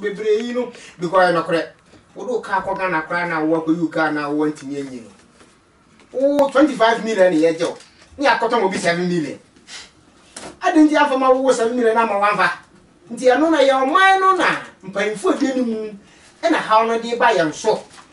Bebree yi no bi kɔ yɛ nɔkorɛ wo de wo car kɔ Ghana koraa na wo akɔ yi wo car na wo antumi anyi no wo 25 million ne yɛ gyew ne yɛ akɔtɔ mo bi 7 million adi nti anfa ma wo wo 7 million ama wanfa nti ɛno na yɛ ɔman no na mpanyinfoɔ di ne mu ɛna haw no de ba yɛn so.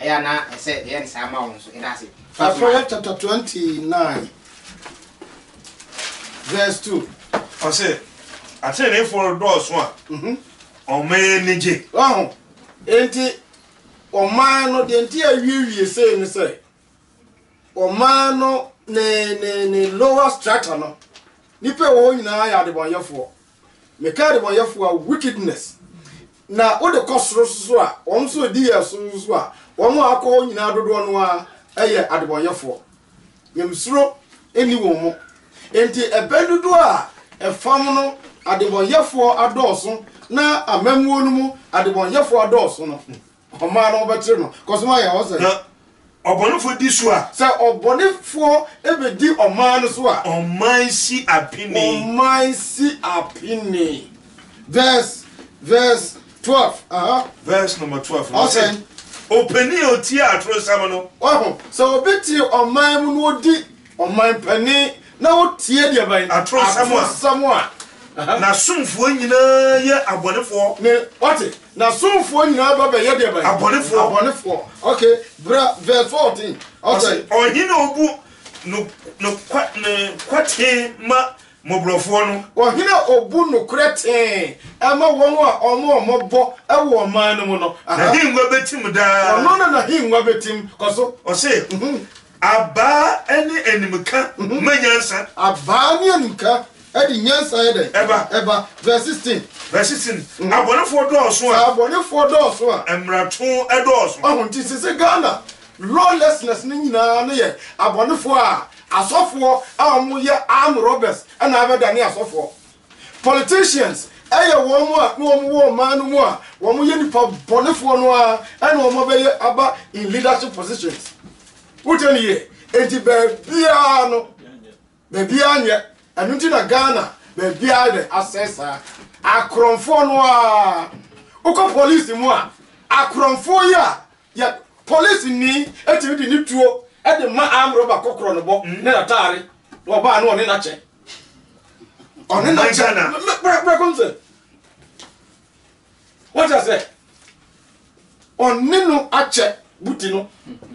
Ɛyɛ a na ɛsɛ yɛyɛ no saa ma wɔn nso. Yɛda ase. Fa so ma. Ɛfr chapter 29 vs 2. Ɔse, Ateneneefoɔ redɔɔso a, ɔman ani gye. Wahu? Enti, ɔman no, deɛ nti a awiewie sei ne sɛ, ɔman no ne, ne, ne lower strata no, nnipa a ɛwɔ hɔ nyinaa yɛ adebɔnyɛfoɔ. Meka adebɔnyɛfoɔ a, wickedness, na wode kɔ soro nso a, wɔn nso ɛdi yɛn so nso a, wɔn a akɔ hɔ nyinaa dodoɔ no ara ɛyɛ adebɔnyɛfoɔ. Nyamesuro nni wɔn mu. Enti ɛbɛn dodoɔ a ɛfam no adebɔnyɛfoɔ adɔɔso na amammuo no mu adebɔnyɛfoɔ adɔɔso no, Ɔmaa no wɔbɛkyere no. Kɔ so ma yɛn hɔ sɛ. Na ɔbɔnefoɔ di so a. Sɛ ɔbɔnefoɔ bɛdi ɔman no so a. Ɔman si apini. Ɔman si apini. Verse verse twelve. Aha. Verse number twelve. Ɔsɛ. Ɔpanin a ɔtie atorosɛm no. Wahu sɛ ɔbɛtie ɔman mu na ɔdi Ɔman panin na wotie deɛ bɛn? Atoro nsɛm a. Atoro nsɛm a. N'asomfoɔ nyinaa yɛ abɔnefoɔ. Ne, wate, n'asomfoɔ nyinaa ba bɛyɛ deɛ bɛn? Abɔnefoɔ. Abɔnefoɔ. Ok, bra verse fourteen. Ɔsɛ. Ɔhene a ɔbu no, no, no kwa tee ma mmɔborɔfoɔ no. Ɔhene a ɔbu nokorɛ tee ma wɔn a wɔn a wɔbɔ wɔ ɔman no mu no. N'ahengua bɛtim daa. Ɔno na n'ahengua bɛtim. Kɔ so. Ɔse. Abaa ne animka ma nyansa. Abaa ne animka de nyansa yɛ dɛn? Ɛba. Ɛba. Verse sixteen. Verse sixteen. Mhm. Abɔnefoɔ dɔɔso a. Sɛ abɔnefoɔ dɔɔso a. Mmarato dɔɔso. Ɔho nti sɛ sɛ Ghana lawlessness no nyinaa no yɛ abɔnefoɔ a asɔfoɔ a wɔyɛ arm robbers na abɛdane asɔfoɔ. Politicians yɛ wɔn mo a na wɔn wɔ ɔman no mu a wɔn yɛ nipa bɔnefoɔ no ara ɛna wɔn abɛyɛ aba in leadership positions wotɛ ne yie enti baabiara no baabiara nyɛ ɛno nti na Ghana baabiara dɛ asɛe saa akorɔmfoɔ no ara wokɔ police mu a akorɔmfoɔ yi a Yɛ police nii ɛtumi de ne tuo ɛde ma arm robber kɔkorɔ no bɔ ne nataare na ɔbaa no ɔne nakyɛ ɔne nakyɛ na brɛ kɔm sɛ wọ́n kyɛ sɛ ɔne no akyɛ buti no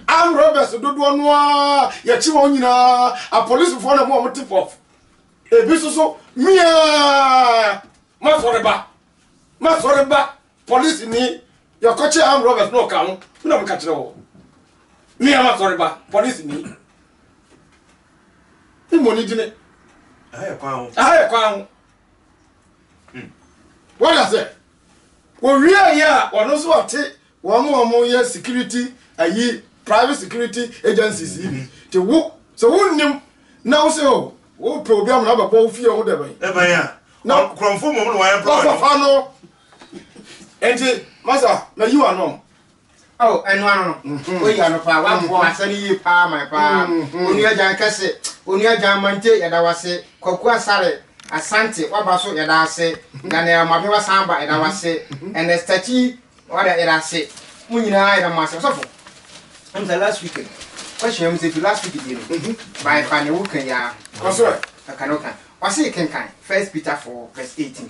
arm robbers dodoɔ no a yɛkyi wɔn nyinaa apolisifoɔ na mu a wɔte pɔf ebi soso miaa masɔre ba masɔre ba Polisini, Yɛkɔkyee armed robbers na ɔka ho, wo na meka kyerɛ wo. Me a masɔre ba, polisini. Wo mmɔ ne dini. Aha yɛ kwan ho. Aha yɛ kwan ho. Hmm. Wọ́n yà sẹ́, wọ́n wíyà yẹ a, wọ́n nso ọ̀te wọ́n mu ọmọ yẹ security ayi private security agencies yi bi. Te wo, sɛ wo nnim na wo sɛ o, wo pɛ obi amuna bɛbɔ wo fie ho dɛbɛn. Dɛbɛn a. Na kurɔmfo mmom na wɔayɛ papa no. Wɔkɔfa no. Enti, Masa, mayi w'ano. Oh, ɛno ano no. Mhm. Oyi ano paa, wabɔ mhm. asɛ no yie paa man paa. Mhm. Onua Gyan kɛse, Onua Gyan Mante, yɛda wase. Kwaku Asare, Asante, waba so, yɛda ase. Daniel Mabe wasan ba, yɛda wase. Ernest Takyi, wada yɛda ase. Mo nyinaa yɛda mo ase. Ɔsɔfo, ɛmu sɛ last week, question ɛmu sɛ fi last week deɛ no, bae fa ne wo kan yia. Ɔsɔre. Ɛka ne wo kan. Ɔse kenkan First Peter 4 verse 18.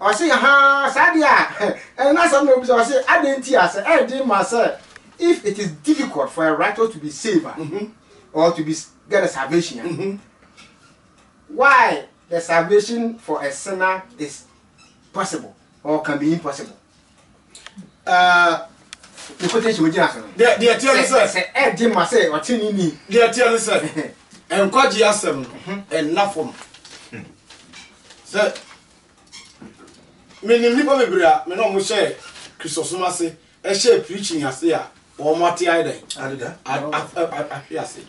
Ɔse, Ahaa, saa deɛ a, ɛno no asɛm na ɔbisa, ɔse, adɛn nti a sɛ ɛyɛ den ma sɛ, if it is difficult for a righteous to be saved a, or to be get a salvation a, why the salvation for a sinner is possible or can be impossible? Uh, the quotation we gyina so no. Deɛ deɛ teɛ ne sɛ. Sɛ ɛde ma sɛ ɔte ne ni. Deɛ teɛ ne sɛ. Nkwagye asɛm no ɛnna fam. Sɛ Menim nnipa bebree a me ne wɔn hyɛɛ Kristosom ase, hyɛɛ preaching ase a wɔate ayɛ dɛn? Adeda. Ahwe ase.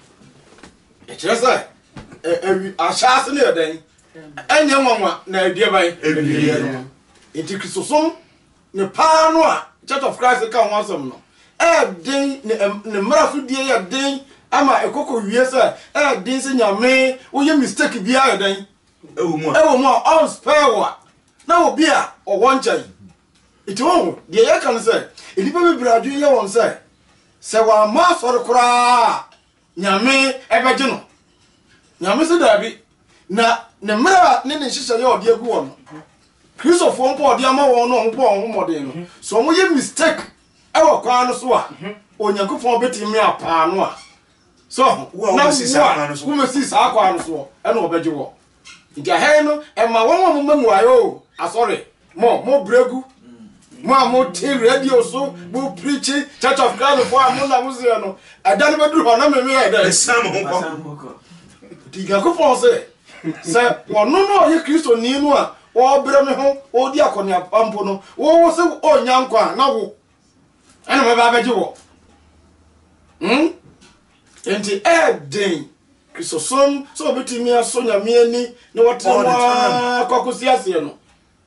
Ɛkyerɛ sɛ ahyɛase no yɛ dɛn? Ɛnyɛ nwanwa na ɛdeɛ bɛn? Ɛdeɛ no. Nti Kristosom ne paa no a Church of Christ ka ho asɛm no ɛɛden ne mmara so die yɛ den ama ɛkɔkɔ wie sɛ ɛɛden sɛ nyame woyɛ mistake biara yɛ dɛn? ɛwɔ mu a ɔnspɛɛ wo a na obi a ɔwɔ nkyɛn nti wohu deɛ yɛka no sɛ nnipa bebree adwene yɛ wɔn sɛ sɛ wɔammɔ asɔre koraa nyame ɛbɛgye no nyame sɛ daabi na ne mmerɛ a ne ne nhyehyɛ yɛ ɔde agu wɔn no kristofoɔ mpo ɔde ama wɔn no ɔmopɔ wɔn ho mmɔden no so ɔmoyɛ mistake ɛwɔ kwan no so a onyankopɔn bɛtumi apaa no a So ho? Wo a Na wobɛsi saa kwan no so. wobɛsi saa kwan no soɔ, ɛna ɔbɛgye wɔ. Nti ahɛn no, ɛma wɔn a moma muaeɛ o, asɔre, mo, mo brɛ gu, mo a mote radio so, mo preachi, Church of Christ foɔ a mo na mo seɛ no, ɛda no bɛduru hɔ na me meyɛ dɛ. Ɛsan mo ho kɔ. Nti Nyankopɔn se, sɛ ɔno na ɔyɛ Kristoni no a ɔrebrɛ me ho, ɔredi akɔneaba mpo no, wo wo se ɔnnya nkwa a, na wo. ɛna wɔbɛba abɛgye wɔ hmm? nti ɛɛden kristosom sɛ wɔbɛtumi aso nyame ani na wɔtena mu aa kɔkɔsi aseɛ no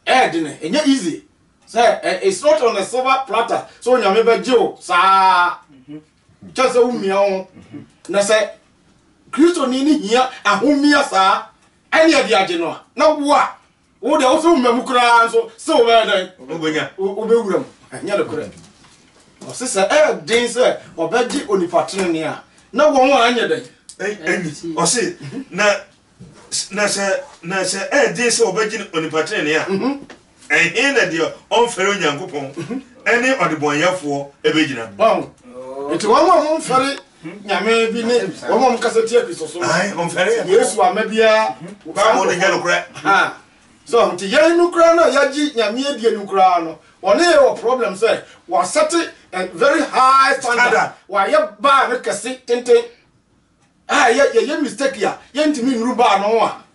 ɛɛden ɛnyɛ easy sɛ it's not on a silver platter sɛ onyame bɛgye wo saa kyɛ sɛ womia wo na sɛ kristoni no hia ahomia saa ɛne ɛde agye no a na wo a Wo deɛ woso mma mu koraa nso sɛ wobɛyɛ dɛn? Wobɛnya. Wobɛwura mu. Ɛnyɛ nokorɛ. Ɔse sɛ ɛyɛ den sɛ ɔbɛgye onipa tenenee a, na wɔn a anyɛ dɛn? Ɛnyi. Ɔse na na sɛ na sɛ ɛyɛ den sɛ ɔbɛgye onipa tenenee a, mhm. ɛhe na deɛ ɔmfɛre Onyankopɔn mhm. ɛne ɔdebɔnyɛfoɔ ɛbɛgyina? Nti wɔn a wɔmfɛre Nyame bi ne wɔn a wɔkasa tia Kristo so no. Yesu amma biara saa nkurɔfoɔ ha. So nti yɛn no koraa no a yɛagye Nyame adie no koraa no, wɔne yɛ wɔ problem sɛ wɔasɛte a very high standard, wɔayɛ bar no kɛse tenten a yɛyɛ mistake a yɛntumi nnuru bar no ho a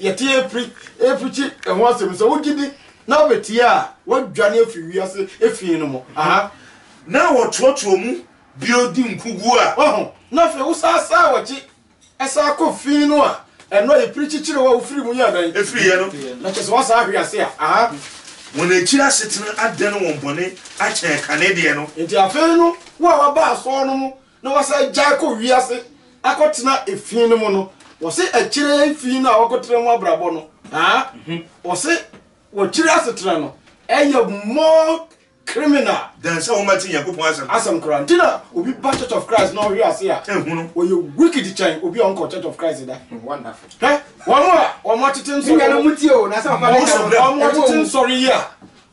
Yɛte apiri reprikyi ɛho asɛm yi, sɛ wogye di na wobetie a, woadwane afi wiase fi no mu. Aha. Na wɔtrɔtrɔ mu bio di nkogu a. Wahu? Na afei wosan san w'akyi san kɔ fi no a, ɛno a yɛprikyi kyerɛ wo a wofiri mu yɛ dɛn? Efiriiɛ no. Na kyerɛ sɛ woasan ahwe ase a. Aha. Wɔn akyiri asetena adane wɔn bɔne akyɛn kane deɛ no. Enti afei no, wo a woaba asɔr no mu. na wɔsan gyae kɔ wiase akɔtena efi no mu no, wɔse ɛkyerɛ yɛn fi no a wɔkɔtena mu abrabɔ no. Aa, wɔse wɔkyiri asetena no, ɛyɛ more criminal. Than sɛ wɔma te Nyankopɔn asɛm. Asɛm koraa. Nti na obi ba Church of Christ na ɔhwe ase a, ɔyɛ wicked kyɛn obi a ɔnkɔ Church of Christ da. Hwɛ, wɔn a wɔn atete nsɔre, wɔn atete nsɔre yi a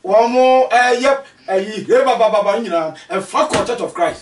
wɔn ɛyɛ ɛyi hebabababa nyinaa, ɛfa kɔ Church of Christ.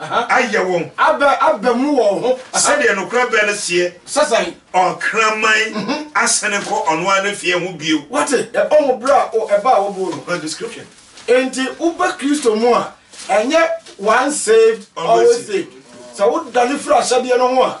ayɛ wɔn. Abɛ, abɛ mu wɔn ho. Sɛdeɛ nokorɛ bɛ no seɛ. Sɛ sɛn? Ɔkraman asane kɔ ɔno ara n'efie ho bio. Wate? Yɛbɔ ho berɛ a, o, ɛba a wɔboo no. Her description. Enti woba Kristo mu a, ɛnyɛ once saved, always saved. Sɛ wodane firi ahyɛdeɛ no ho a,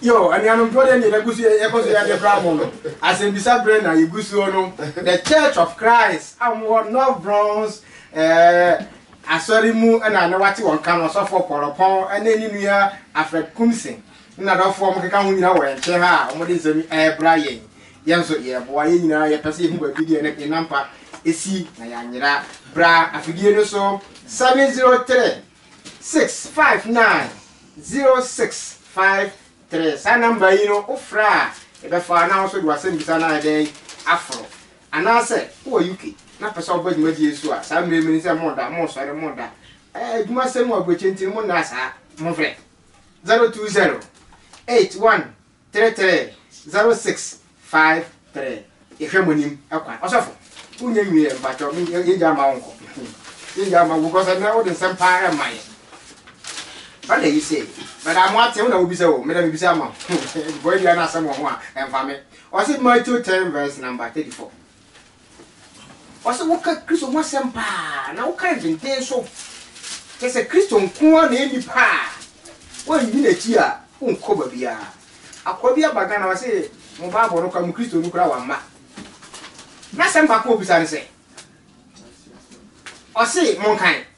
Yoo anuanom nto dɛn deɛ yɛgu so yɛkɔ so yɛde bra mo no asɛmbisa berɛ na yɛgu soɔ no the church of Christ a wɔn wɔ North Bronx eh, asɔre mu na na wate wɔn ka no ɔsɔfoɔ Pɔlɔpɔn ɛne ne nua Alfred Kumsen ne nadɔfoɔ wɔn keka ho nyina wɔ yɛn nkyɛn ha a wɔn de nsɛm ɛbra yɛn yɛn nso yɛboa yɛn nyinaa yɛpɛ sɛ yɛhu baabi deɛ ne nampa esi na yɛanyera bra afidie no so 703 Six five nine zero six five three saa number yi no wo frɛ a ɛbɛfa na wo nso de w'asɛmbisa no ayɛ dɛ aforo anaasɛ wowɔ UK na pɛ sɛ wobɛ dwumadie nso a saa mmerɛ mu ni sɛ moda mosɔre moda ɛɛ adwuma sɛm wɔ aburokyɛ nti no mondaa saa mofrɛ zero two zero eight one Three three zero six five three yɛhwɛ mo nim kwan ɔsɔfo wonya nwieɛ mpakyɛw me yɛngya ama wo nkɔ yɛngya ama wo kɔsɛ na wode nsɛm paa ɛma yɛ bada yi sɛ bada mo ate wo na wobisa o meda mebisa ama wo bɔyɛ bia no asɛm wɔ ho a ɛmfa me ɔse Matthew 10 verse number 34 Ɔwɔ sɛ woka Kristo ho asɛm paa na woka no denden nso. Kyerɛ sɛ Kristo nko ara na enni pa a woanni n'akyi a wonkɔ baabiara. Akoa bi aba Ghana ɔse mo Bible no koraa mo Kristo no koraa wamma. N'asɛm baako a obisa ne sɛ, ɔse monkan.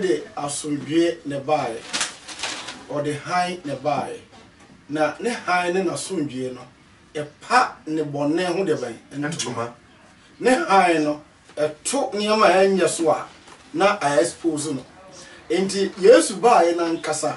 de asomdwoeɛ na ɛbaeɛ, ɔde hann na ɛbaeɛ, na ne hann ne n'asomdwoeɛ no, ɛpa nnebɔne ho deɛ bɛn? Ntoma. Ne hann no, ɛto nneɛma a ɛnyɛ so a, na a expose no. Enti Yesu baeɛ no ankasa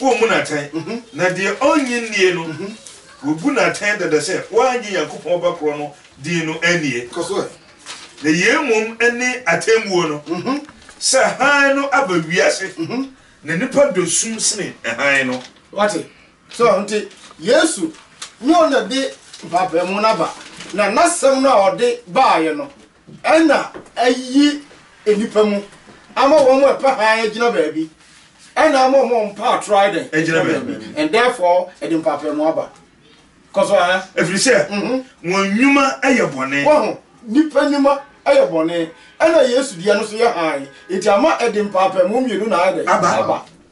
Wɔn mu no atɛn, na deɛ ɔnnye nnie no, wɔbu no atɛn dada sɛ wannye Nyankopɔn Ba korɔ no din no annie. Na yei mmom ne atɛnbuo no, sɛ hann no aba wiase, na nnipa dɔ sum sene hann no. Wate? So wonte? Yesu nyɛ ɔno na ɛde mpaapaemu no aba, na N'asɛm no a ɔde baeɛ no, Ɛna ayi nnipa mu. Ama wɔn a ɛpɛ hann agyina baabi. Ɛna ama wɔn a wɔmpɛ atoro ayɛ dɛn? Agyina baabi. And therefore, ɛde mpaapaemu aba. Kɔ so, ɛhɛ. Ɛfiri sɛ, wɔn nnwuma yɛ bɔne. Wahu? Nnipa nnwuma yɛ bɔne. Ɛna Yesu deɛ no nso yɛ hann. Enti ama ɛde mpaapaemu mmienu na ayɛ dɛn? Aba.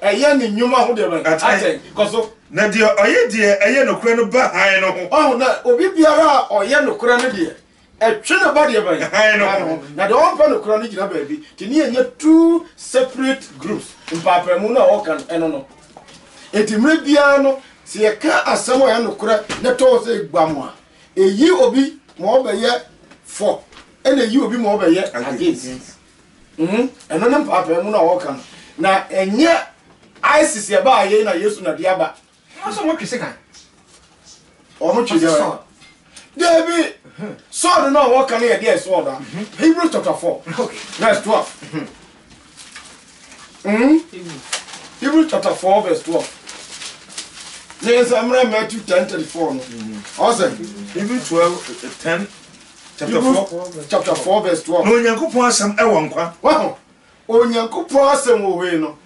Ɛyɛ ne nnwuma ho deɛ bɛn? Atɛn. Kɔ so. Na deɛ ɔyɛ deɛ ɛyɛ nokorɛ no ba hann no ho. Wahu? Na obi biara a ɔyɛ nokorɛ no deɛ, ɛtwe no ba deɛ bɛn? Hann no ho. Na deɛ ɔmpɛ nokorɛ no gyina baabi. Nti ne yɛnyɛ two separate groups. Mpaapaemu no a wɔka no, ɛno no. Nti mmerɛ biara no, sɛ yɛka asɛm a ɛyɛ nokorɛ na ɛtɔ hɔ sɛ ɛgbam a, ɛyi obi ma ɔbɛyɛ for ɛna ɛyi obi ma ɔbɛyɛ against. Mm-hmm. Ɛno ne mpaapaemu no a wɔka no. Na ɛnyɛ ISIS yɛ baa yei na Yesu na de aba. Wɔn nso wɔtwe se kan. Wɔn twe deɛ wɔyɛ. Deebi sɔɔdo no a wɔka no yɛ deɛ sɔɔdo a. Hebrews chapter four verse twelve. Hebrews chapter four verse twelve. Ne nsa mmerɛ Matthew ten thirty four no. Ɔsɛ. Hebrews twelve ten. chapter four chapter four verse twelve. na onyankopɔn asɛm ɛwɔ nkwa. wɔho onyankopɔn asɛm wɔ hɔ yi no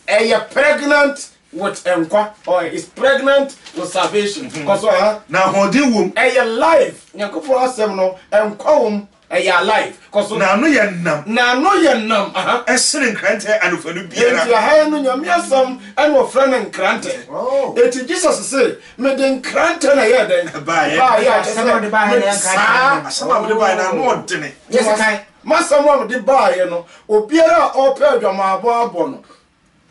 ɛyɛ pregnant with nkwa or is pregnant with salvation mm-hmm. kɔsɔ ha na ahoɔden wom ɛyɛ life nyankopɔn asɛm no nkwa wom ɛyɛ alive kɔsɔ na ano yɛ nam na ano yɛ nam aha ɛsene nkrantɛ anofanu biara nti aha no nyame asɛm ɛna ɔfrɛ no nkrantɛ oh. eti jesus se Mede nkrantɛ na ɛyɛ dɛn baeɛ? Baeɛ a kyerɛ sɛ mede saa asɛm a mede baeɛ no ano ɔdene. M'asɛm a mede baeɛ no, obiara a ɔrepɛ adwamammɔ abɔ no,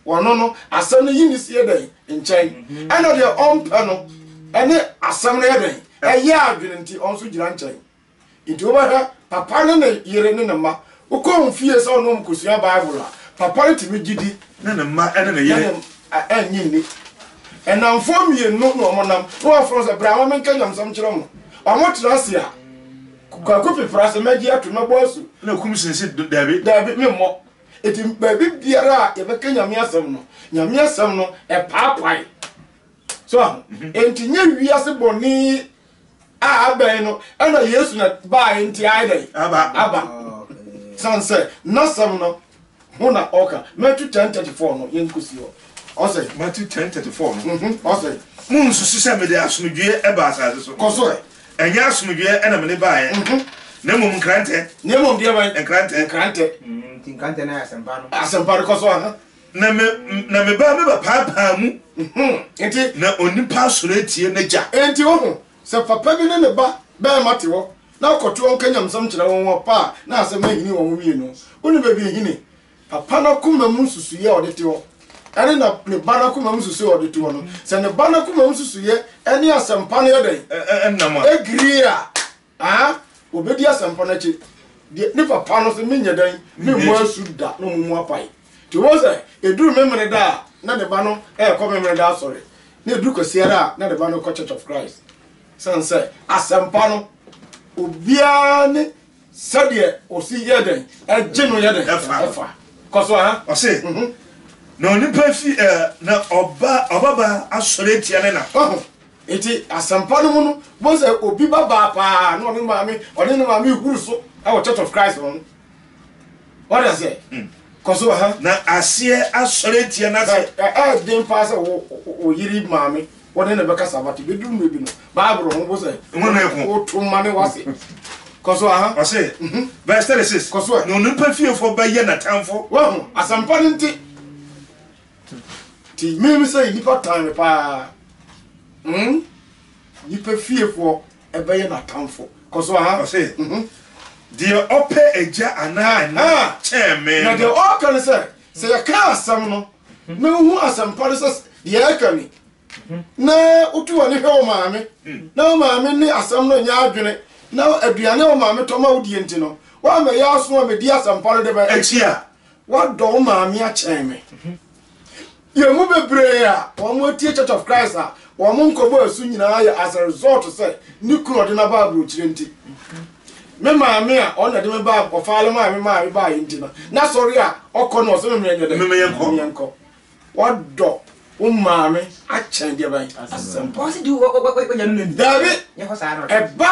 ɔno no, asɛm no yi no sie dɛn? Nkyɛn. Ɛnna deɛ ɔmpɛ no ne asɛm no yɛ dɛn? Ɛyɛ adwene nti, ɔno nso gyina nkyɛn. Enti wobɛhwɛ papa ne ne yere ne ne mma. Wokɔ wɔn fie sɛ wo ne wɔn kosua Bible a, papa no tumi gye di. Ne ne mma ne ne yere. Na nnye nni. Nnamfoɔ mmienu na wɔnam, na wɔafrɛ wɔn sɛ, Bra ma menka nyamesɛm nkyerɛ mo. Wɔtra ase a, Kwaku pepera se, Mɛgye atom, mɛbɔ asu. Na Kum Sen se, Dabi. Dabi, memmɔ. Enti baabi biara a yɛbɛka Nyame asɛm no, Nyame asɛm no, ɛpaapae. So aho? Enti nyɛ wiase bɔne a abɛn no ɛna Yesu na baeɛ nti ayɛ dɛn? Aba. Aba. San sɛ n'asɛm no ho na ɔka. Matthew ten thirty four no yɛn kɔsi hɔ. Ɔsɛ. Matthew ten thirty four no. Mhm. Ɔsɛ. Mo nsusu sɛ mede asomdwoeɛ ɛba asase so. Kɔ so ɛ. Ɛnyɛ asomdwoeɛ ɛna mede baeɛ. Mhm. Na mmom nkrantɛ. Na mmom deɛ bɛn? Nkrantɛ. Nkrantɛ. Mm, nti nkrantɛ no yɛ asɛmpa no. Asɛmpa no kɔ so aha. Na me na me ba mebɛpaapaa mu. Nti. Na onipa asɔre atie n'agya. Nti wo ho sɛ papa bi ne ne ba bɛrima te hɔ na ɔkɔto ɔnka nyamsɛm kyerɛ wɔn a ɔpɛ a na asɛm ahini wɔn wie no, wo ne baabi ahini? Papa no akoma mu nsusuiɛ a ɔde te hɔ ɛne na ne ba no akoma mu nsusuiɛ a ɔde te hɔ no, sɛ ne ba no akoma mu nsusuiɛ ɛne asɛmpa no yɛ dɛn? Ɛnam a. Ɛgiri a, Aah obedi asɛmpa no akyi deɛ ne papa no se menyɛ dɛn memmɔ asu da na ɔmo mu apae nti wohu sɛ ɛduru memeneda a na ne ba no ɛɛkɔ memeneda asɔre na ɛduru kwasiada a na ne ba no kɔ church of Christ sane sɛ asɛmpa no obiara ne sɛdeɛ ɔsi yɛ dɛn ɛgye no yɛ dɛn ɛfa kɔ so aha ɔse na onipa fi na ɔba ɔbaba asɔre atia ne na Enti asɛmpa no mu no, wobɛhu sɛ obi ba baa paa na ɔne maame ɔne ne maame huru so wɔ Church of Christ no no. Wɔde aseɛ. Mm. Kɔ so ha. Na aseɛ asɔre atia no ase. Ɛyɛ den paa sɛ wo yere maame wɔne ne bɛkasa bate bɛduru mmerɛ bi no Bible ho bo sɛ woto mma ne wase. Kɔ so aha. Ɔse mhm. verse 36 kɔ so ɛ. Na onipa fiefoɔ bɛyɛ n'atamfo. Wahu asɛmpa no nti. Nti meme sɛ nnipa tan me paa mm nnipa fiefoɔ ɛbɛyɛ n'atamfo kɔ so aha. Ɔse deɛ ɔpɛ agya anaa ɛna kyɛn me no. Na deɛ ɔka ne sɛ sɛ yɛka asɛm no na wohu asɛmpa no sɛ deɛ ɛka ni na wotu w'ani hwɛ wo maame na wo maame ne asɛm no nyɛ adwene na aduane a wo maame tɔ ma wo die nti no woammɛyɛ aso ammɛdi asɛmpa no de bɛ akyi a Wɔdɔ wo maame akyɛn me. Yɛn mu bebree a wɔatie Church of Christ a wɔn nkɔmmɔ resu nyinaa yɛ as a result sɛ ne kunu a ɔde no aba aburokyire nti. Me maame a ɔno na ɛde me baa Ɔfaalem a me maame baeɛ nti no, n'asɔre a ɔkɔ no ɔse me menyɛ dɛn? Me menyɛ nkɔ. Wɔdɔ wo maame akyɛn deɛ bɛn? Asɛmpa. Daabi, ɛba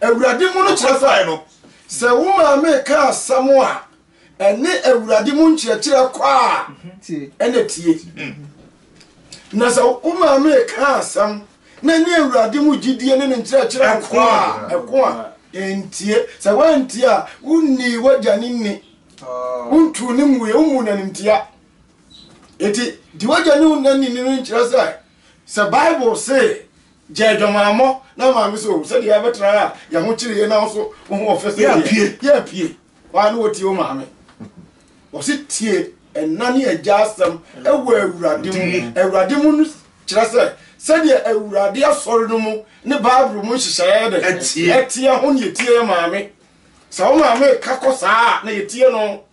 Awurade mu no kyerɛ fae no. Sɛ wo maame reka asɛm a ɛne Awurade mu nkyerɛkyerɛ kɔ a, ɛna tie. Na sɛ wo maame reka asɛm na ɛne Awurade mu gyidie ne ne nkyerɛkyerɛ kɔ a, ɛko a, ɛntie. Sɛ woantie a, wonnii w'agya no nni. Wontuu no nguiɛ, wommu no animtia. Enti, di w'agya ne wo na nini no nkyerɛ sɛ Sɛ Bible se, Gya adwamammɔ na ma me so, sɛdeɛ yɛabɛtra a yɛn ho kyere yei na wo nso wo ho ɔfɛ sɛ deɛ yɛapue. Waa ne wɔtie wo maame. Wɔse tie ɛna ne agya asɛm wɔ Awurade mu. Awurade mu no kyerɛ sɛ sɛdeɛ Awurade asɔre no mu ne Bible mu nhyehyɛeɛ de ɛteɛ ho ne yɛtie yɛ maame. Sɛ wo maame ka kɔ saa a na yɛtie no.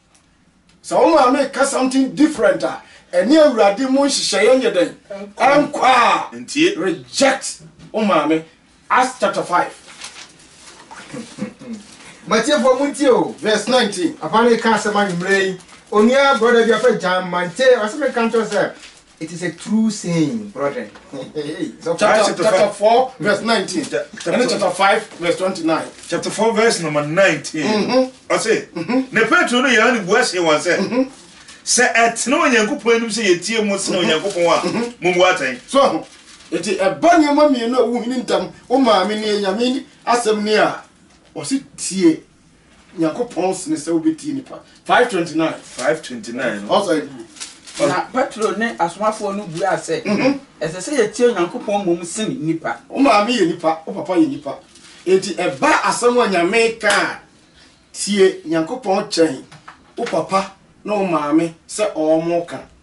Sɛ wo maame reka something different a, ɛne Awurade mu nhyehyɛeɛ nyɛ dɛn? Ɛnkɔ a, reject wo maame. Acts chapter five. M'atiefoɔ montie o, verse nineteen. Papa no reka asɛm anwummerɛ yi, onua brɔda bi afrɛ Jan Mantey, ɔse menka nkyerɛ wo sɛ, It is a true saying, brethren. chapter, chapter 4, verse 19. Chapter, and chapter 5, verse 29. Chapter 4, verse number 19. Mm-hmm. I say, mm-hmm. ne Petro no yɛ ani bua se wɔn sɛ, mm-hmm. sɛ ɛtena Onyankopɔn anim sɛ yɛtie mu sena mm-hmm. Onyankopɔn a, mm-hmm. mo mu atɛn. So, eti ɛba nneɛma mmienu a wohini ntam, wo maame ne nyame asɛm ne a, wɔsi tie Nyankopɔn sene sɛ wobɛtie nipa. 529. 529 no. Ɔsɛ. Na Petro ne asomafoɔ no buaa sɛ, mhm. Ɛsɛ sɛ yɛtie Onyankopɔn mmom sene nipa. Wo maame yɛ nipa, wo papa yɛ nipa. Enti ɛba asɛm a Nyame ka a, tie Nyankopɔn kyɛn wo papa ne wo maame sɛ ɔmo ka.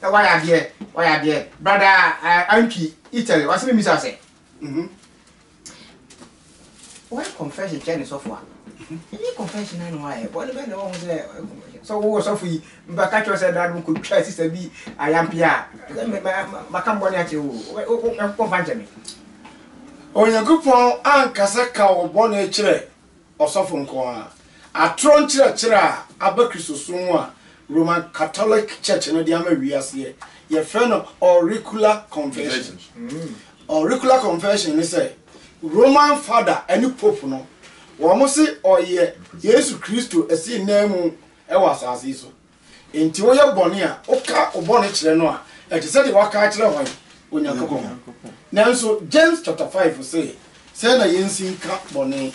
Sɛ wayɛ adeɛ wayɛ adeɛ brada eh, antwi Italy ɔse me misa sɛ mhm wayɛ confession kyerɛ ne sɔfo a ɛnyɛ confession na na wayɛ bɔne bɛn na wahu sɛ wayɛ confession sɛ wowɔ sɔfo yi mbɛka kyerɛ sɛ da no kɔtwa sista bi ayampe a sɛ me- ma- ma- maka mbɔne akyerɛ wo o. Wɛ- wo- wo- ɛmfa nkyɛ me Onyankopɔn ankasa ka wo bɔne kyerɛ ɔsɔfo nko ara. Atoro nkyerɛkyerɛ a aba Kristosom mu a Roman Katolek Church no de ama wiase ɛ, yɛfrɛ no auricular confession. Auricular confession ne sɛ, Roman Fada ne Pope no, wɔse ɔyɛ Yesu Kristo asiananmu wɔ asase yi so. Enti woyɛ bɔne a, woka wo bɔne kyerɛ no a, ɛte sɛ deɛ woaka akyerɛ hwan? Onyankopɔn. Nanso James chapter five se, sɛn na yɛnsi nka bɔne?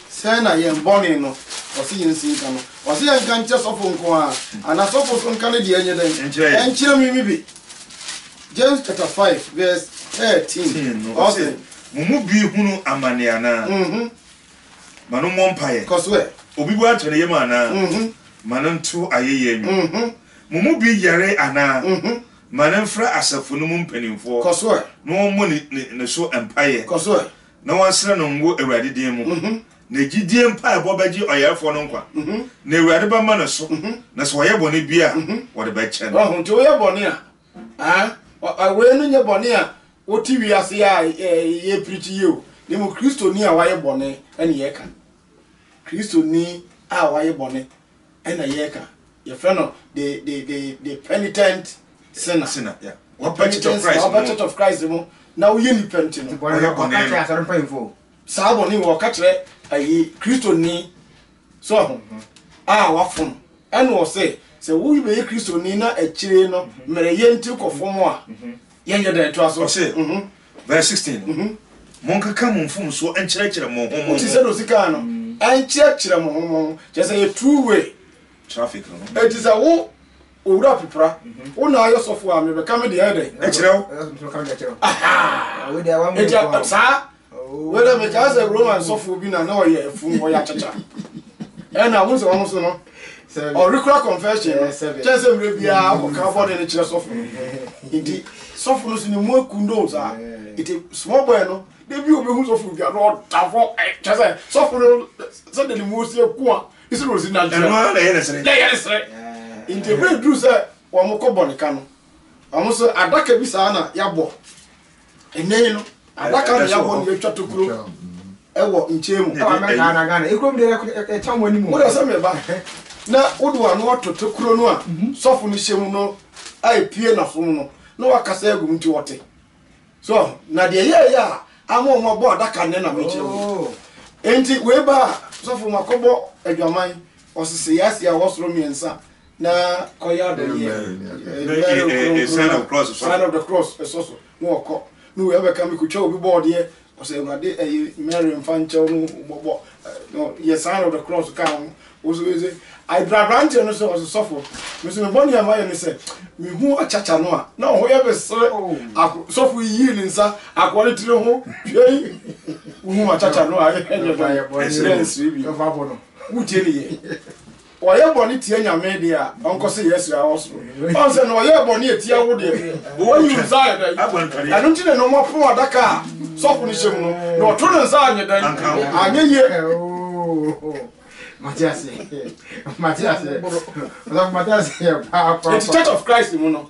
Sɛn na yɛn bɔne no, ɔse yɛnsi nka no? Ɔse yɛnka nkyerɛ sɔfo nko ara, anaa sɔfo nso nka ne deɛ nyɛ dɛn? Nkyerɛ me bi. James chapter five verse thirteen, ɔse. Mo mu bi hunu amane anaa? Ma no mmɔ mpaeɛ. Kɔ so ɛ. Obi bo atɔ ne yam anaa? Ma no nto ayɛyie nnwom. Mo mu bi yare anaa? Ma no mfrɛ asafo no mu mpanimfoɔ. Kɔ so ɛ. Na wɔmmɔ ne so mpaeɛ. Kɔ so ɛ. Na wɔnsra no ngo Awurade din mu. Na gyidie mpaebɔ bɛgye ɔyarefoɔ no nkwa, na Awurade bɛma no so, na sɛ ɔyɛ bɔne bi a, wɔde bɛkyɛ no. Nti woyɛ bɔne a, Ah, wei no nyɛ bɔne a wote wiase a yɛpirikyi yi o, ne mu kristoni a wayɛ bɔne ɛne yɛka. Kristoni a wayɛ bɔne ɛna yɛka. Yɛfrɛ no the, the, the, the penitent sinner. Sinner, yeah. Wapɛkyɛkyɛ wɔ Christ mu. Wapɛkyɛkyɛ of Christ mu. Na woyɛ nipa nti no. Wɔyɛ bɔne no. Saa bɔne wɔ ɔka kyerɛ ayi kristoni So ahonhom a wɔafom na wɔse sɛ wobɛyɛ Kristoni na akyire no mmerɛyɛ nti wokɔ fom a, yɛnyɛ dɛn? Toa so. Ɔse, verse 16 no, Monkeka mo mfomsoɔ nkyerɛkyerɛ mo ho mo ho. Wote sɛdeɛ ɔsi kaa no, nkyerɛkyerɛ mo ho mo ho, kyerɛ sɛ yɛ two way. Traffic no ho. Enti sɛ wo Owura Pipra, wo na ayɛ sɔfo a, mebɛka me deɛ ayɛ dɛn? Akyerɛ wo. Enti saa Wei dɛ mekaa sɛ Roman sɔfoɔ bi na na ɔyɛ fun ɔyɛ akyakya ɛna wohu sɛ ɔno so no ɔrekora confession no kyɛn sɛ mmerɛ biara ɔkɔka bɔne no kyerɛ sɔfo no nti sɔfo no so ne mu akundo saa nti small boy no da bi ɔbɛhu sɔfo bia na ɔda hɔ kyɛ sɛ sɔfo no sɛ de ne mu ɔsi aku a ne sɛ ɔsi na gyerɛ na ɛyɛ ne sere na ɛyɛ ne sere nti ɛbɛduru sɛ wɔn kɔ bɔne ka no wɔn so adaka bi saa na yɛabɔ Ɛnnɛ yi no, adaka na yɛabɔ no yɛatwa tokuro wɔ nkyɛn mu. Ɛwɔ Amerika na Ghana. Ekurom deɛ ɛkyɛn wɔn anim. Wode sɛ meba na wode w'ano ato tokuro no a sɔfo no hyɛ mu no a epue n'asom no na wakasa agu mu nti wɔte. So na deɛ ɛyɛeɛ a ama wɔn abɔ adaka nnɛ na mekyerɛ wo yi. Enti wei ba a, sɔfo makɔbɔ adwaman, ɔsese yɛase a ɛwɔ soro mmiɛnsa. na ɔyɛ adɔyɛ mɛrɛ kronkron sign of the cross ɛsɔ so na ɔkɔ na wei abɛka mi kotwa obi bɔ ɔdeɛ ɔsɛ awurade ɛyɛ mɛrɛ nfa nkyɛw no bɔbɔ yɛ sign of the cross ka ho woso ɛsɛ ayibra aberanteɛ no sɛ ɔsɛ sɔfo mi sɛ mi bɔ ne ɛma yɛ ne sɛ mi hu akyakya no a na ɔho yɛ bɛ srɛ ako sɔfo yiyii ne nsa akoa ne tiri ho hwɛ yi wohu akyakya no a ɛyɛ bɛ ɛsrɛ nsiri bi wotie ne yɛ. Ɔyɛ bɔne tia Nyame deɛ a, ɔnkɔ sɛ yɛasira wɔ soro. Ɔn sɛ na ɔyɛɛ bɔne atia wo deɛ, wayi wo nsa ayɛ dɛn? Ɛno nti na na wɔpono adaka a sɔfo no hyɛ mu no, na ɔto ne nsa anyɛ dɛn? Anyɛ yie. Mate aseɛ. Mate aseɛ. Ɔsɔfo mate aseɛ paa paa paa. Enti Church of Christ mu no,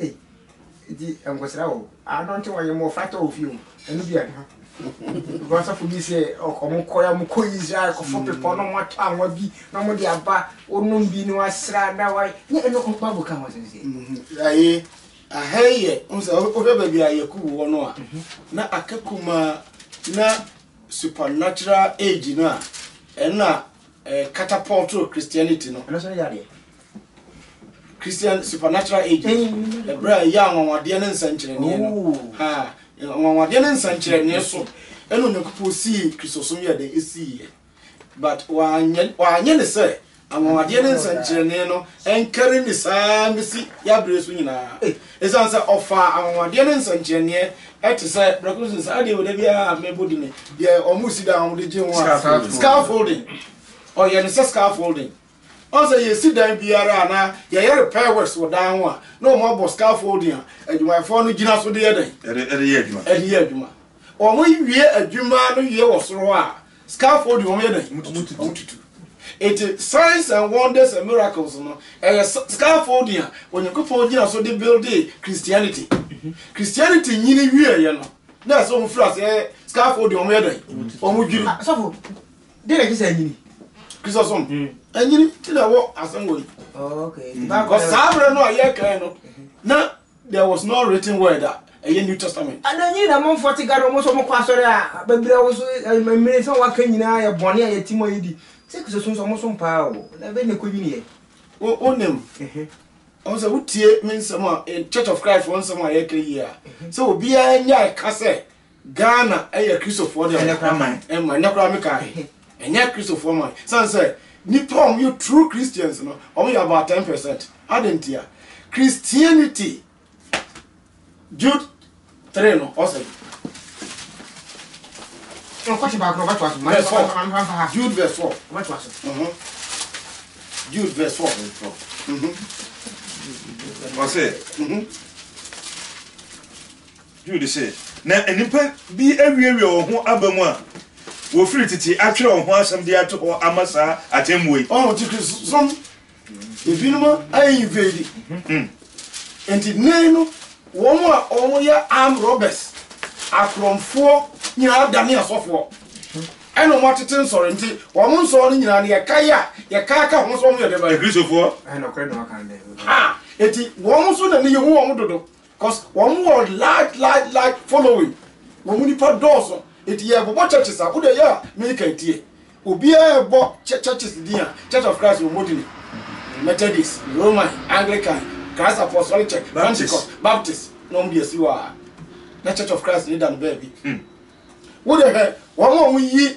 Ei nti nkɔsra wo ano nti wɔyɛ mmɔfra tɔ wɔ fie o ɛno bi ɛka bɔ asɔfo bi sɛ ɔmo kɔ ya mo kɔ Israel kɔfo mm. pepɔ na ɔmo atɔ anwa bi na ɔmo de aba ɔnom bi na wasra na wa ne ɛno ɔba bu ka ho sɛn sɛ. Mm-hmm. Ayi ahɛ yɛ nsɛ ɔhwɛ baabi a yɛku wɔ no a mm-hmm. na aka kuma na supernatural age no a ɛna eh, catapult Christianity no. Ɛno sɛ yɛ adeɛ. Christian supernatural ages ɛberɛ a ɛyɛ anwanwadeɛ ne nsɛnkyerɛnneɛ no ha anwanwadeɛ ne nsɛnkyerɛnneɛ so ɛna onyankopɔn sii kristosom yɛ dɛ ɛsiiɛ but wanyɛ wanyɛ ne sɛ anwanwadeɛ ne nsɛnkyerɛnneɛ no ɛnkari ne saa bɛsi yɛaberɛ so nyinaa ɛsiane sɛ ɔfaa anwanwadeɛ ne nsɛnkyerɛnneɛ ɛte sɛ brɛko sɛ saa deɛ wɔda biara mɛbɔ di ne deɛ ɔmo si da a wɔde gye ho a scaffolding ɔyɛ ne sɛ scaffolding Ɔn sɛ yesi dan biara a na yɛyɛ repairs wɔ dan ho a na wɔn abɔ scaffolding a adwumayɛfoɔ no gyina so de yɛ dɛn? Ɛde yɛ adwuma. Ɛde yɛ adwuma. Wɔn wie adwuma no wie wɔ soro hɔ a scaffolding wɔn yɛ dɛn? Wɔn tutu. Eti signs and wonders and miracles no ɛyɛ scaffolding a Onyankopɔn gyina so de buildee Christianity. Christianity nyini wie yɛ no na ɛsɛ wɔn firi aseɛ scaffolding wɔn yɛ dɛn? Wɔn dwiri. Sɔfo, Dɛn na ɛkyerɛ sɛ anyini? Kristosom anyini ti na ɛwɔ asɛm wɔ yi. Because saa berɛ no a yɛkae no na there was no written word a ɛyɛ New Testament. Ɛna nyini na amanfoɔ te gado ɔmo nso ɔmo kɔ asɔre a bɛbira wɔn so mmiri nso a wɔaka nyinaa yɛ bɔne a yɛte mu a yɛdi sɛ Kristosom nso ɔmo som paa o na ɛbɛn na ɛkɔ nyini yɛ. Wonim ɔmo sɛ wotie me nsɛm a Church of Christ wɔn nsɛm a yɛka yi a sɛ obiara nya ɛka sɛ Ghana yɛ Kristofoɔ deɛ Ɛnɛ koraa man. ɛma ɛnɛ koraa me kaa he ɛnyɛ Kristofoɔ man sane sɛ nipa a wɔn yɛ true Christians no wɔn yɛ about ten percent adɛn ntia Christianity Jude three no ɔsɛ Nkɔkye baako na ɔbɛtoa so. Verse four. Ɔbɛtoa- ɔbɛtoa- ɔbɛtoa- Jude verse four ɔbɛtoa so. Mhm. Jude verse four Mhm. Ɔse, Mhm. Jude se, Na nnipa bi awiawia wɔn ho aba mu a wɔfiri tete atwerɛ wɔn ho asɛm de ato hɔ ama saa atemmuo yi. Ɔho te Kristosom ebinom ayɛ invade nti nnɛ yi no wɔn a wɔyɛ armed robbers, akorɔmfoɔ nyinaa adane asɔfoɔ ɛna wɔn atete nsɔre nti wɔn nsɔre no nyinaa no yɛkae a yɛkae ka ho sɛ wɔn yɛ dɛbɛn? Akristofoɔ. Ha! Enti wɔn nso na ne yɛhu wɔn dodo. Cause wɔn wɔ large large large following, wɔn nipa dɔɔso, nti yɛ bɔbɔ churches a, wo deɛ yɛ a me kan tie, obiara ɛbɔ churches din a, church of Christ wɔn di ni, Methodist, Roman, Anglican, Christ Apostolic Church, Pentecost, Baptist, na wɔn de asi hɔ a, na church of Christ ni da no baabi, wo deɛ hwɛ wɔn a wɔn yi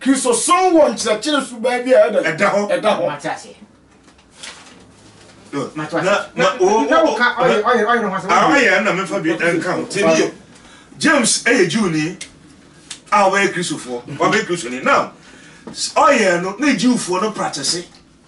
Kristosom wɔ nkyerɛkyerɛ suban bi a ɛda hɔ. Ɛda hɔ. Mate aseɛ. Mate aseɛ. Na na wo ka ɔyɛ ɔyɛ ɔyɛ ne ho asɛm. Ɔyɛ na mefa bi nka ho. Tie nie. James ɛyɛ Jewni a ɔbɛyɛ Kristofoɔ. Ɔbɛyɛ Kristoni. Now ɔyɛ no ne Jewfoɔ no practice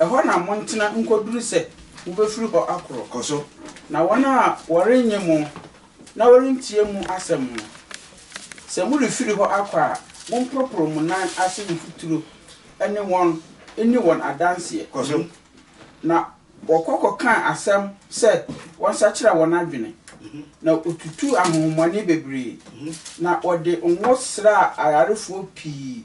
Ɛhɔ na montena nkɔduru sɛ mobɛfiri hɔ akɔ. Kɔ so. Na wɔn a wɔrennye mo na wɔrentie mo asɛm no, sɛ morefiri hɔ akɔ a, momporoporo mo nan ase mfuturo ne wɔn nni wɔn adanseɛ. Kɔ so. Na wɔkɔ kɔkaa asɛm sɛ wɔnsakyera wɔn adwene, na wɔtutuu ahonhommɔne bebree, na wɔde ngo sraa ayarefoɔ pii